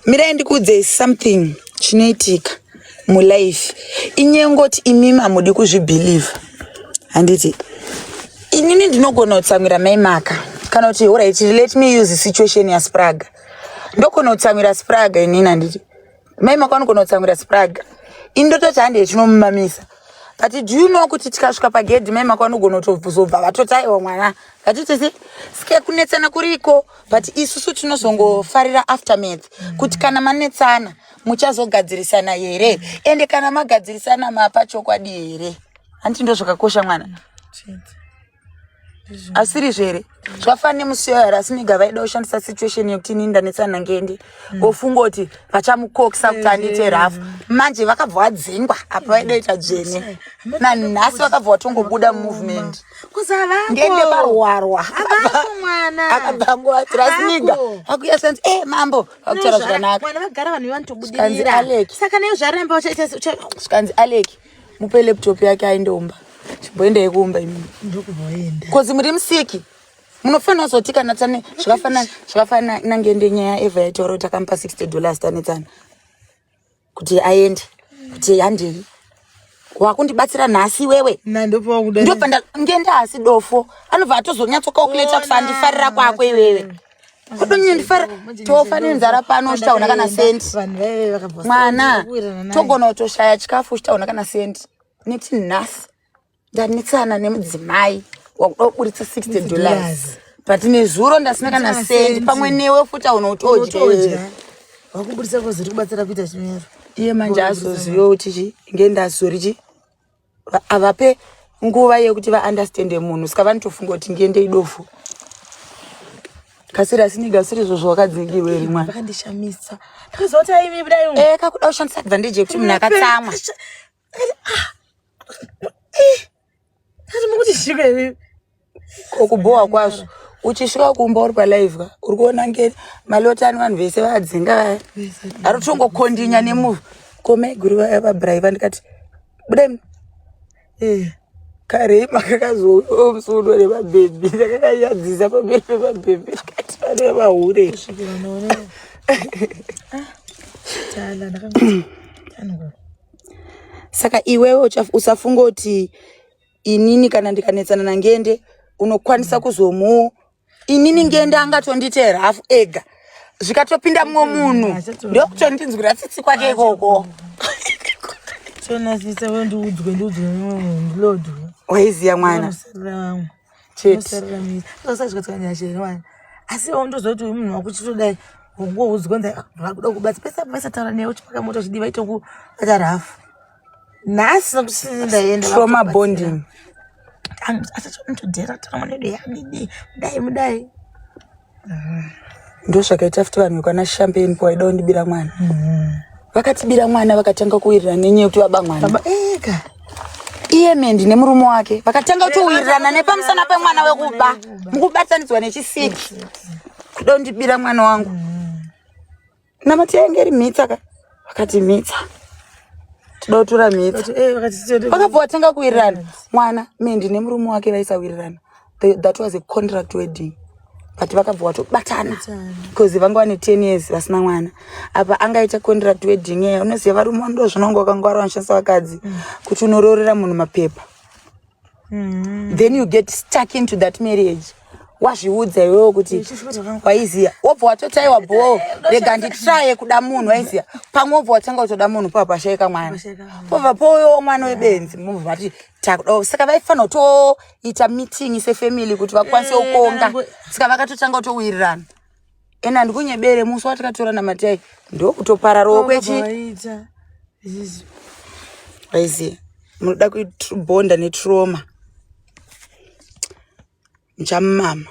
mirai ndikuudzei something chinoitika mulife inyengoti imimi hamudi kuzvibhilieve handiti inini ndinogona kutsamwira mai maka kana kuti orit let me use situation yaspraga ndogona kutsamwira spraga inini handiti mai mako anogona kutsamwira spraga ini ndototi handei tinomumamisa but do you know kuti tikasvika pagedhi mai mako anogona kutozobva vatoti aiwa mwana vatitisi ske kunetsana kuriko but isusu tinozongofarira aftermath kuti kana manetsana muchazogadzirisana here ende kana magadzirisana mapa chokwadi here hanti ndo zvakakosha mwana Chete. asirizvo here zvafana nemusiyo yari asi nega vaida kushandisa situation yekuti ini ndanetsana ngendi mm. vofunga kuti vachamukokisa kuti andiite rafu manje vakabva vadzingwa apa vaida ita dzvene nanhasi vakabva vatongobuda mumovement ngende varwarwa akabhangovatira asi nega akuya sanzi e eh, mambo vakutaura zvakanaka zvikanzi aleki mupe laptop yake aende umba chimboenda yekuumba imi kozi muri musiki munofanira kuzoti kana tane zvakafanana zvakafanana inange ende nyaya eva yaitaura kuti akamupa 60 dollars tanetsana kuti aende kuti handei wakundibatsira nhasi iwewe ndobva ngendaasi dofo anobva atozonyatsokaokuleta kuti andifarira kwako iwewe ndifara tofa nenzara pano uchitaona kana sendi mwana togona kutoshaya chikafu uchitaona kana sendi neti nhasi ndanetsana nemudzimai wakuda kuburitsa 60 dollars but nezuro ndasina kana sendi pamwe newe futi aona kuti odya wakuburitsa koziri kubatsira kuita chimero iye manje azoziva kuti chi ngendazi zori chi havape nguva yekuti vaunderstande munhu saka vanotofunga kuti ndiye ndeidofu kasiri asi ndigasiri izvo zvawakadzingirwa iri mwana vakandishamisa ndakaziva kuti aivi kudai eh kakuda kushandisa advantage yekuti munhu akatsamwa ah, eh, ndati mukuti zviko ivi Ko kubhowa kwazvo. Uchisvika kumba uri palive ka. Uri kuona nge malota ani vanhu vese vadzinga vaya. Ari kutongo kondinya nemuva. Ko mai guru vaya vabrai vandikati budai muno. Eh. Kare makakazouyawo musuno nemabhebhi ndakakanyadzisa pamberi pemabhebhi ndikati pane vahure. Kusvikira naona. Ah. Tala ndakanga. Tano. Saka iwewe usafunga kuti inini kana ndikanetsana nangende unokwanisa kuzomu inini ngende angatonditeera hafu ega zvikatopinda mumwe munhu ndokutondinzwira tsitsi kwake ikoko chonasisa we ndiudzwe ndiudzwe mumwe munhu ndilodwa waiziya mwana cheteasaazvikatsanyashewana asi ndozoti uyu munhu wakuchitodai wongoudzwa ndakuda kubatsa pesa pesa taura newe uchipaka moto zvidiva itokubatara hafu nhasi kusini ndaenda trauma bonding asachomutodzera trauma nedo yamidi mudai mudai ndo zvakaita futi vanhu vekwana champagne po vaida kundibira mwana mm-hmm. vakatibira mwana vakatanga kuwirirana nenyaya yekuti vaba mwana ega iye mendi nemurume wake vakatanga kutowirirana nepamusana pemwana wekuba mukubatanidzwa nechisiki kuda kundibira mwana wangu mm. Namati yainge iri mhitsa ka vakati mhitsa tida kutura mhitsa eh, vakabva vatanga kuwirirana mwana me ndine murume wake vaisawirirana that was a contract wedding but vakabva vatobatana because vanga vane ten years vasina mwana apa angaita contract wedding eya unoziva varume ndo zvinongo vakanga vari vanoshandisa vakadzi mm. kuti unoroorera munhu mapepa mm. then you get stuck into that marriage wazviudza iwewo kuti waiziya wobva watotaiwa bhoo rega nditraye kuda munhu waiziya pamwe wobva watanga kutoda munhu pava pashaika mwana pobva pouyowo mwana webenzi mobva vati takuda saka vaifanira kutoita meeting sefamily kuti vakwanise eh, kukonga saka vakatotanga kutowirirana ena ndikunyebere musi watakatora namatai ndokutopara rokwechi aiziye munoda kubonda netroma muchamumama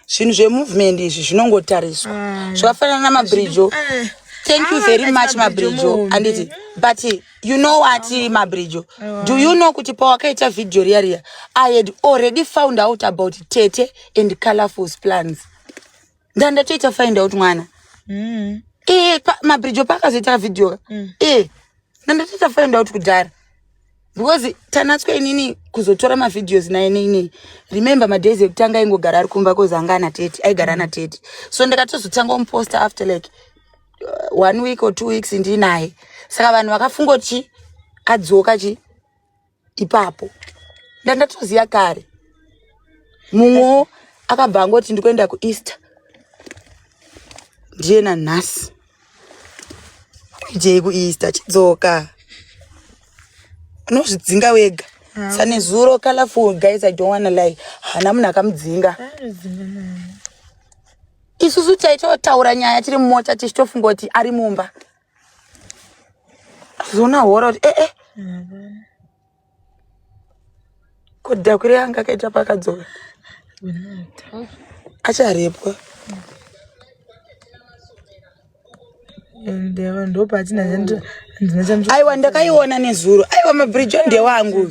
zvinhu zvemovement izvi zvinongotariswa mm. zvakafanana namabridge eh. thank you very much mabridge anditi but you know what mabridjo do you know kuti pawakaita video riya riya i had already found out about tete and colorful plans ndandatoita find out mwana mm. e pa, mabridjo paakazoita video mm. e ndandatoita find out kudhara because tanatswa inini kuzotora mavideos naye neinei remember madays ekutanga aingogara ari kumba kozanga ana tete aigara ana tete so ndakatozotanga umuposta after like uh, one week or two weeks ndinaye saka vanhu vakafunga kuti chi adzoka chi ipapo ndandatoziva kare mumwewo akabva angoti ndikuenda kueaster ndiye nanhasi idei kueaster chidzoka unozvidzinga wega ah. sanezuro colorful guys i don't wanna lie hana munhu akamudzinga isusu taitotaura nyaya tiri mumota tichitofunga kuti ari mumba zona hora kuti ee eh, eh. kodhida kuri anga akaita pakadzoka acharepwa aiwa ndakaiona nezuro aiwa mabridge ndewangu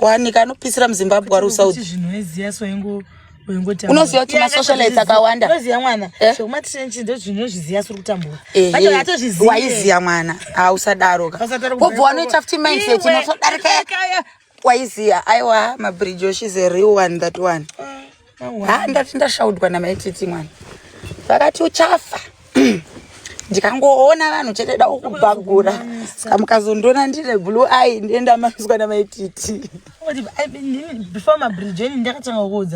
wani kanopisira muzimbabwe ari usauti zvinhu eziya so ingo unoziva kuti masocialite akawanda unoziva mwana eh? zvekumatishenchi ndozvinhu zviziva suri kutambura eh, vacho vatozviziva eh. waiziva mwana hausadaro ka wobva wanoita futi mindset inotodarika waiziva aiwa mabridge oshis a real one that one mm. ha ndati ndashaudwa namai titi mwana vakati uchafa ndikangoona vanhu chete da ukubhagura ska mukazondiona ndine blue eye ndienda manzwa namai titi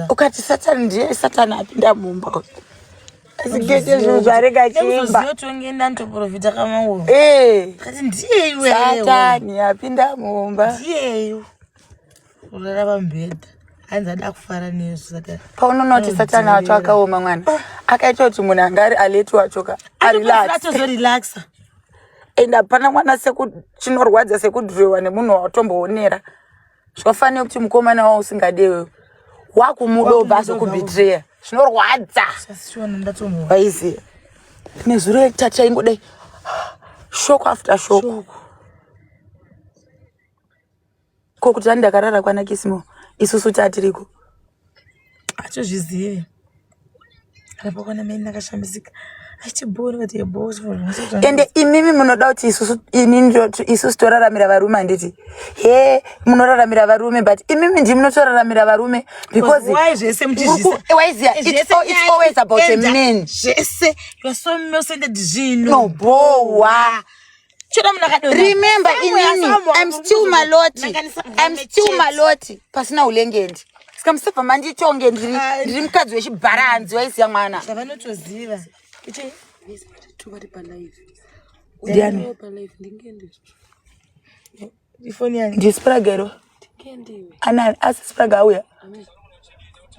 ukati satani ndiye satani apinda mumba uyu zigete zvinhu zvarega achiimbaongenda ndoprofita kamauro eh. ndiye iwesatani apinda mumba ndiyeyo kurara pamubhedha hanzi ada kufara nezvo saka paunonoti mm, satani wacho akaoma mwana ah. akaita kuti munhu anga ari aleti wacho ka arilatozorilaksa and hapana mwana sekuchinorwadza sekudhiroiwa nemunhu wawatomboonera zvakafanira kuti mukomana wavo usingade wewe wakumudoba azokubitreya zvinorwadza waiziva nezuro yekutatu chaingodai shoko after shoko, shoko. Ko kuti tani ndakarara kwana Kismo isusu tatiriko. Atozvizivi. Arapo kwana meni nakashambisika. Achibhori kuti yebo. Ende imimi munoda kuti isusu inini isusu toraramira varume handiti. He munoraramira varume but imimi ndimi munotoraramira varume because why zvese muchizvisa. Why is it, it's, it's always about a man. Zvese you are so innocent zvinhu. No bowa. remember inini im still maloti im still maloti pasina ulengendi ska musabva manditonge ndiri ndiri mukadzi wechibhara hanzi waisiya mwana vanotoziva ndispragero anani asi spraga auya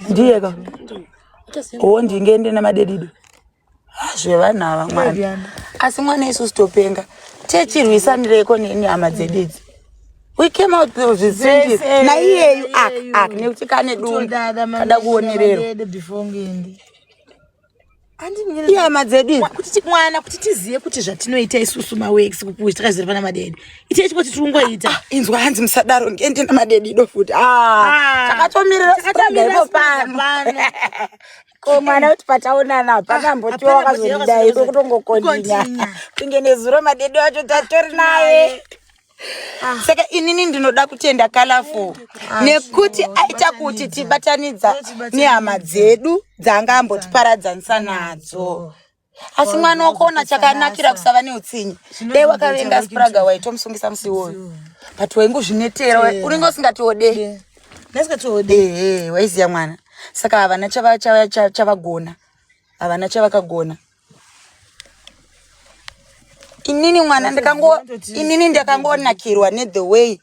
ndiyeka o ndingende namadedido Ah, zvevanhu ava mwana asi mwana isusu topenga techirwisanireiko neni hama dzedu idzi we came out of the same Yes, eh, naiyeyu ak iyeyu. ak nekuti kane dumbu Todada mama kada yedu, kuonererwa mama yedu before ngende. Andimire- ihama dzedu idzi kuti ti- mwana kuti tizive kuti zvatinoita isusu mawex kukuti takaziva pana madede itai chikoti tiri kungoita Ah, inzwa hanzi musadaro ndiende namadedido futi Ah, Ah, takatomirira takatomira struggle ipo struggle pano. pano. ko mwana kuti pataonana hapana ah, mbotiwa wakazondidai iko kutongokondinya kunge nezuro madede wacho tatori naye ah. saka inini ndinoda kutenda kalafo ah, nekuti aita kuti tibatanidza nehama dzedu dzaanga ambotiparadzanisa nadzo asi mwana wakaona chakanakira kusava neutsinye dai wakavenga spraga waitomusungisa musi iwoyo but wainge uzvinetera unenge usingatiode ehe waiziva mwana saka havana chavagona havana chavakagona inini mwana ndikango inini ndakangonakirwa nethe way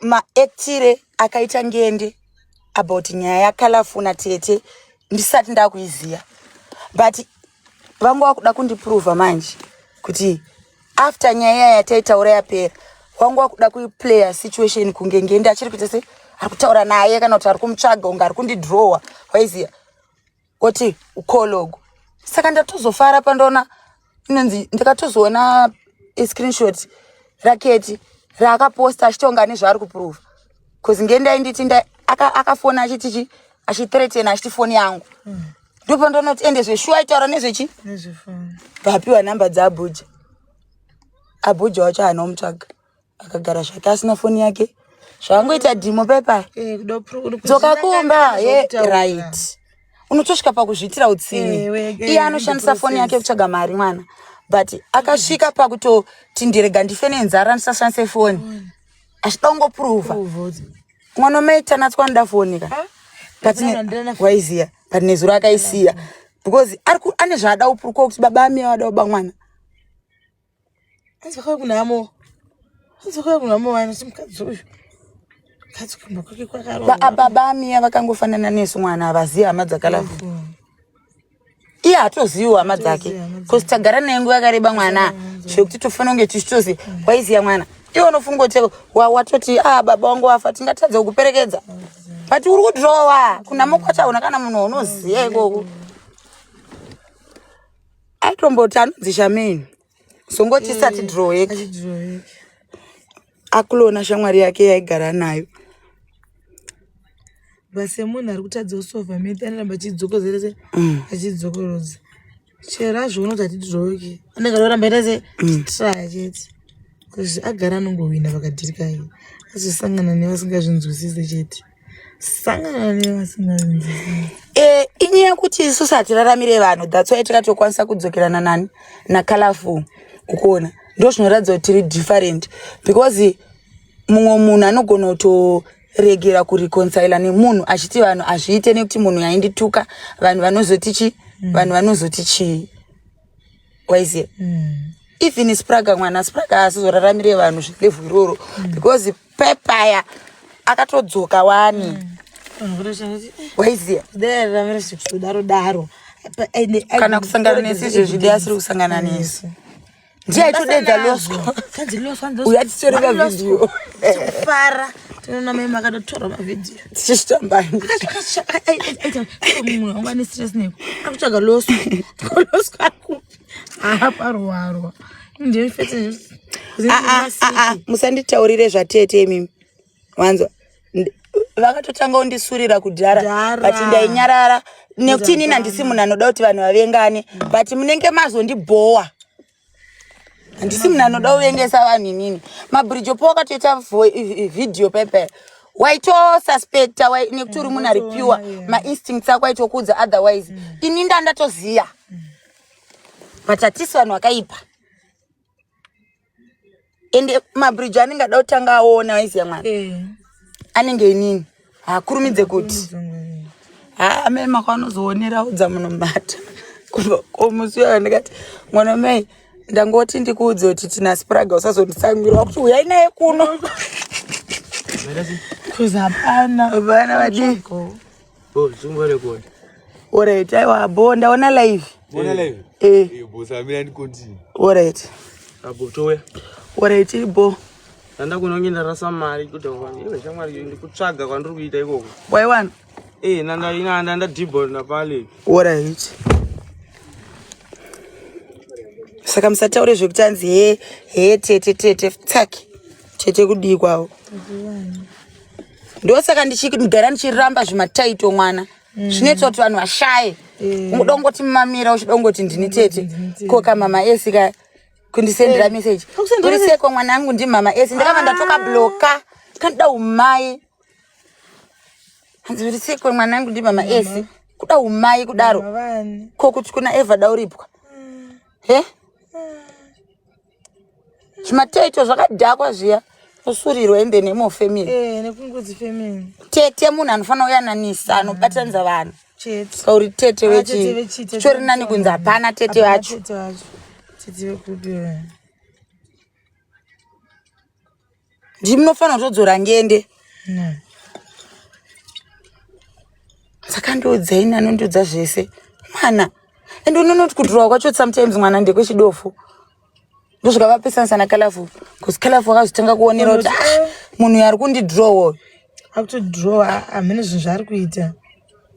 maactire akaita ngende about nyaya yakalafuna tete ndisati ndakuiziva but vanga wakuda kundiprova manje kuti after nyaya iya yataitaura yapera wanga wakuda kuiplaya situation kunge ngende achiri kuita se ari kutaura naye kana kuti ari kumutsvaga unge ari kundidrowa waiziva woti ukologo saka ndatozofara pandaona inonzi ndakatozoona iscreenshot raketi raakaposta achitonga nezvaari kuprova bcause ngendai nditi akafona achiti chi achitretena achiti foni yangu mm. ndopandonoti ende zveshuwa aitaura nezvechi vapiwa nhamba dzaabhuja abhuja wacho haana omutsvaga akagara zvake asina foni yake zvakangoita dhimo pepa eh, dzoka kumba ye right unotosvika pakuzviitira utsini eh, iye anoshandisa foni yake kutsvaga mari mwana but akasvika pakutoti ndirega ndife nenzara ndisashandise foni achida kungopruvha mwana umaita natswa nda foni ka ah, waiziya but nezuro akaisiya because ane zvaada upuruko kuti baba amiya wada uba mwana Hanzi vakauya kunhamo. Hanzi vakauya kunhamo vanhu simukadzi uyu. Mukadzi kumba kwake kwakaromba. Ba- baba amiya vakangofanana nesu mwana havazivi hama dzakalavu iye hatoziviwo hama dzake bcause tagara naye nguva yakareba mwana zvekuti tofanira kunge tichitozi waiziva mwana iwe unofunga kuti wa- watoti a baba wangu wafa tingatadza kukuperekedza but uri kudrowa kunhamo kwachaona kana munhu waunoziva ikoko aitomboti anonzi shameni songo tisati eh, dhiroweki akulona shamwari yake yaigara nayo basemunhu ari kutadza kusova mete anoramba achidzokozerese mm. achidzokorodza chero azvionoti ati dhiroweki anenge anoramba ita se mm. traya chete bcause agara anongohwina pakadhirika azosangana nevasingazvinzwisise chete Eh, inyaya kuti isusu hatiraramire vanhu that's why tikatokwanisa kudzokerana nani nacolorful ukuona ndo zvinoratidza kuti tiri different because mumwe munhu anogona kutoregera kureconcila nemunhu achiti vanhu hazviite nekuti munhu yaindituka vanhu vanozoti chii mm. vanhu vanozoti chii waiziva mm. even spraga mwana spraga asizoraramire vanhu zvilevhu iroro mm. because mm. pepaya akatodzoka wani waiziya kudaro daro kana kusangana nesu izvezvi dai asiri kusangana nesu ndiye aitodedza loswa uya titori mavidhiyo fara tinoona mai makatotora mavidhiyo tichishitambaamunhu wanga nestress neko akutsvaga loswa loswa akupi aparowarwa ah, ah, ah, musanditaurire zvatete imimi wanzwa vakatotanga undisurira kudhara but ndainyarara nekuti inini handisi munhu anoda kuti vanhu vavengane but munenge mazondibhowa handisi munhu anoda kuvengesa vanhu inini mabhurijopo wakatoita vhidhiyo pepe waitosuspecta nekuti uri munhu ari pure mainstincts ako aitokuudza otherwise mm. ini ndandatoziva mm. matatisi vanhu vakaipa ende mabridge anenge ada kutanga aona aiziya mwana eh. anenge inini haakurumidze kuti haa amai makanozoonera udza munhu mata komusi uyo ndikati mwana mai ndangoti ndikuudze kuti tina spraga usazonditsangira wakuti uyai naye kuno kuzapana vana vadii Bro, zungo record. Alright, aiwa bo ndaona live. Bona live? Eh. Eh, bo samira ni continue. Alright. Abo towe. Alright, bo. Nda kuno nginda rasa mari kuti wani. Iwe shamwari ndi kutsvaga kwandiri kuita ikoko. Why one? Eh, nanda ina nda nda dibble na pale. Alright. Saka musataure zvekuti anzi he he tete tete tsaki. Tete kudii kwavo? Ndiwani. ndosaka ndichigara ndichiramba zvimataito mwana mm. zvinoitwa kuti vanhu vashaye mm. udongoti mamira uchidongoti ndini tete mm. koka mama esi ka kundisendera eh. meseji uri seko mwana angu ndi mama esi ndakava ndatoka ah. bloka kandida umai hanzi uri seko mwana angu ndi mama esi kuda umai kudaro ko kuti kuna evada uripwa he zvimateto zvakadhakwa zviya osurirwa in the name of family eh, nekungodzi family tete munhu anofanira kuyananisa anobatanidza vanhu kauri tete vechitori nani kunzi hapana tete vacho ndimi munofanira kutodzora ngende saka ndiudzai nani undiudza zvese mwana ende unonoti kudhurwa kwacho sometimes mwana ndekwechidofo ndosvika vapesanisa nakalafu bcause kalafu wakazotanga kuonera kuti ah, munhu uyu ari kundidhrowa uyu akutodhirowa hamene zvinhu zvaari kuita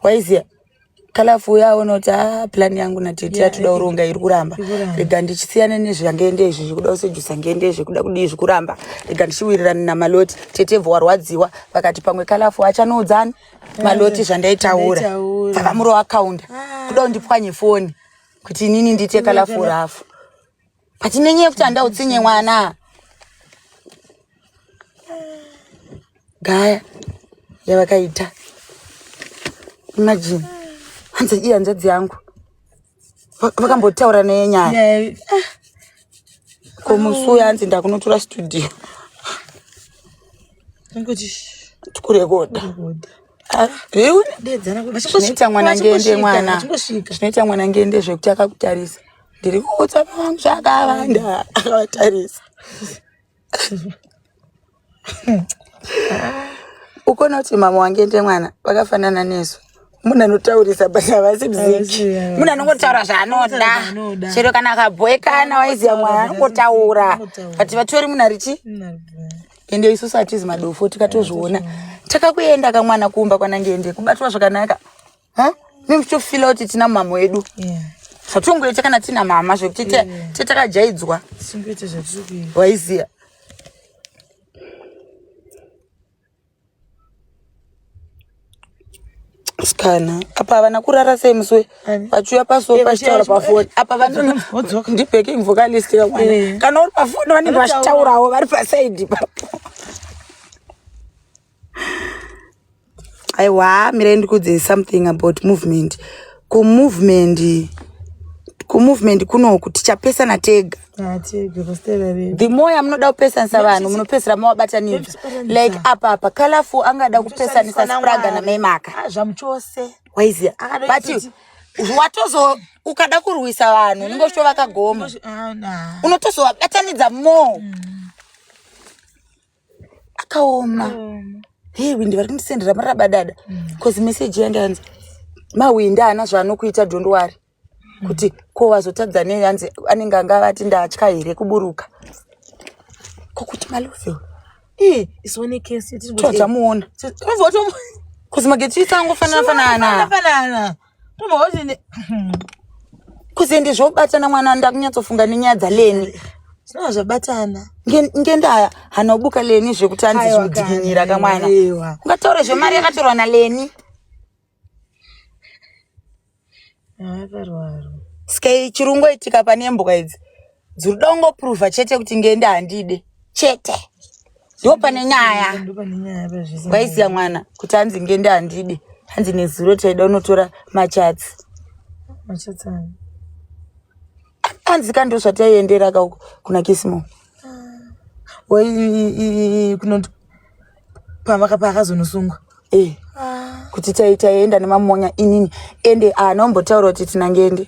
waiziya kalafu uya aona kuti a plan yangu natete yatoda kuronga iri kuramba rega ndichisiyane nezvange ndezvi zvikuda kusejusa nge ndezvi kuda kudii zvikuramba rega ndichiwirirane namaloti tete bvo warwadziwa vakati pamwe kalafu achanoudzani maloti zvandaitaura dzavamuro akaunda ah. kuda kundipwanye foni kuti inini ndiite kalafu rafu but nenyaya yekuti handa utsinye mwana gaya yavakaita imagine hanzi iyi hanzvadzi yangu vakambotaura neye nyaya ko musi uya hanzi ndakunotora studio tikurekoda ah, zvinoita mwana ngende mwana zvinoita mwana ngende zvekuti akakutarisa ndiri kuudza vangu zvakavanda akavatarisa ukona kuti mama wange nde mwana vakafanana nesu munhu anotaurisa but havasi mziki munhu anongotaura zvaanoda chero kana akabhoekana waiziva mwana anongotaura but vatori munhu arichi ende isusu hatizi madofo tikatozviona takakuenda kamwana kumba kwanange ende kubatwa zvakanaka huh? mi muchitofila kuti tina mama edu yeah zvatongoita kana tina mama zvekuti te takajaidzwa waiziva sikana apa havana kurara sei musi vachiuya paso pachitaura pafoni apa vanondibacking vocalist kakwana kana uri pafoni vanenge vachitaurawo vari pasaidi ipapo aiwa mirai ndikuudzei something about movement kumovement kumovement kunoku tichapesana tega Ah, tega pasitera vedu the more yamunoda kupesanisa vanhu munopesera mawabatanidza Muchipesanisa. like apa apa colorful angada kupesanisa spraga namaimaka Ah, zvamuchose waiziya Akadai but kuti- watozo ukada kurwisa vanhu unenge uchitovaka gomo Ah, nah. unotozovabatanidza more akaoma hei windi vari kundisendera marabadada bcause meseji yange yanzi mawindi haana zvaanokuita dondowari kuti ko wazotadza nei anzi anenge anga vati ndatya here kuburuka kokuti maloveo Eh, isu one case tiri kuti- tatamuona Tiri- tiri kuti- kuzi mageti isangofanana fanana Fanana. Mhozi kuzende zvobatana mwana ndakunyatsofunga nenyaya dzaleni zvinova zvabatana ngendaya hanobuka leni zvekuti anzi zvimudzikinyira kamwana ungataure zvemari yakatorwa naleni sky chirungo itika pane mbwa idzi dzuri dongopruvha chete kuti ngende handide chete ndo pane nyaya waiziva mwana kuti hanzi ngende handide hanzi nezuro taida unotora machatsi hanzi ka ndo zvataiendera ka kuna kisimo paakazonosungwa eh, ah. kuti taienda nemamonya inini ende anombotaura kuti tinangende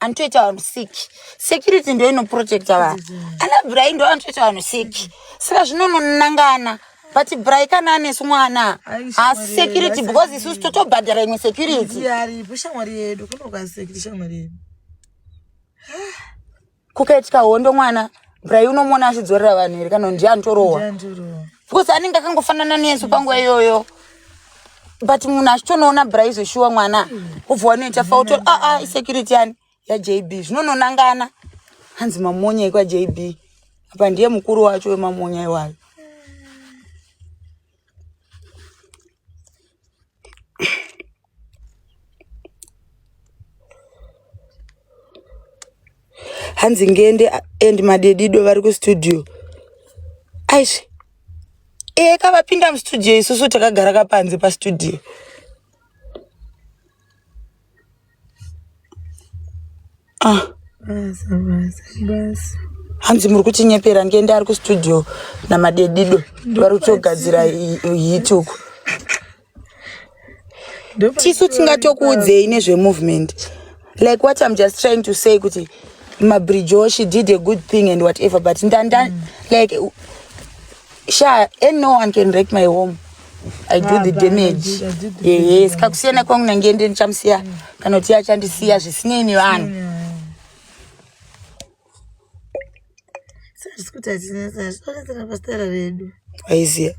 anotoita vanhu sick security ndo inoprotecta vanhu ana brai ndo anotoita vanhu sick saka zvinononangana but brai kana anesu mwana haasi security because isusu totobhadhara imwe security kukaitika hondo mwana brai unomona achidzorera vanhu here kana ndiye anotorohwa because anenge akangofanana nesu panguva iyoyo but munhu achitonoona braizo shuwa mwana obva wanoita fauto aa ah, ah, isecurity yani yajb zvinononangana hanzi mamonya ekwajb apa ndiye mukuru wacho wemamonya iwayo hanzi ngende and madedido vari kustudio aish eka vapinda mustudio isusu takagara kapanze pastudio ah basa basa basa hanzi muri kutinyepera ndiende ari kustudio namadedido vari kutogadzira hit uku tisu tingatokuudzei nezvemovement like what im just trying to say kuti mabridge o she did a good thing and whatever but ndanda mm. like sha and no one can wreck my home i do the damage yes kakusiyana kwangu nange ndi ndichamusiya kana kuti achandisiya zvisinei nevanhu aiziya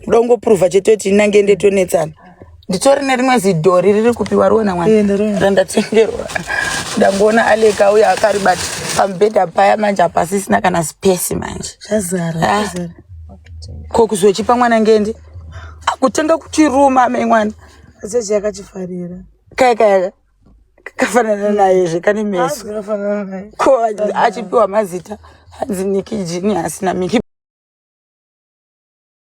kuda kungopruvha chete kuti inange ndetonetsana nditori nerimwe zidhori riri kupiwa riona mwana randatengerwa ndangoona alek auya akaribata pamubhedha paya manje hapasisina kana space manje ah. ko kuzochipa mwana ngende akutanga kutiruma amai mwana achechi yakachifarira kaya kaya kafanana naye zve kane meso ko achipiwa mazita hanzi nikijini asina miki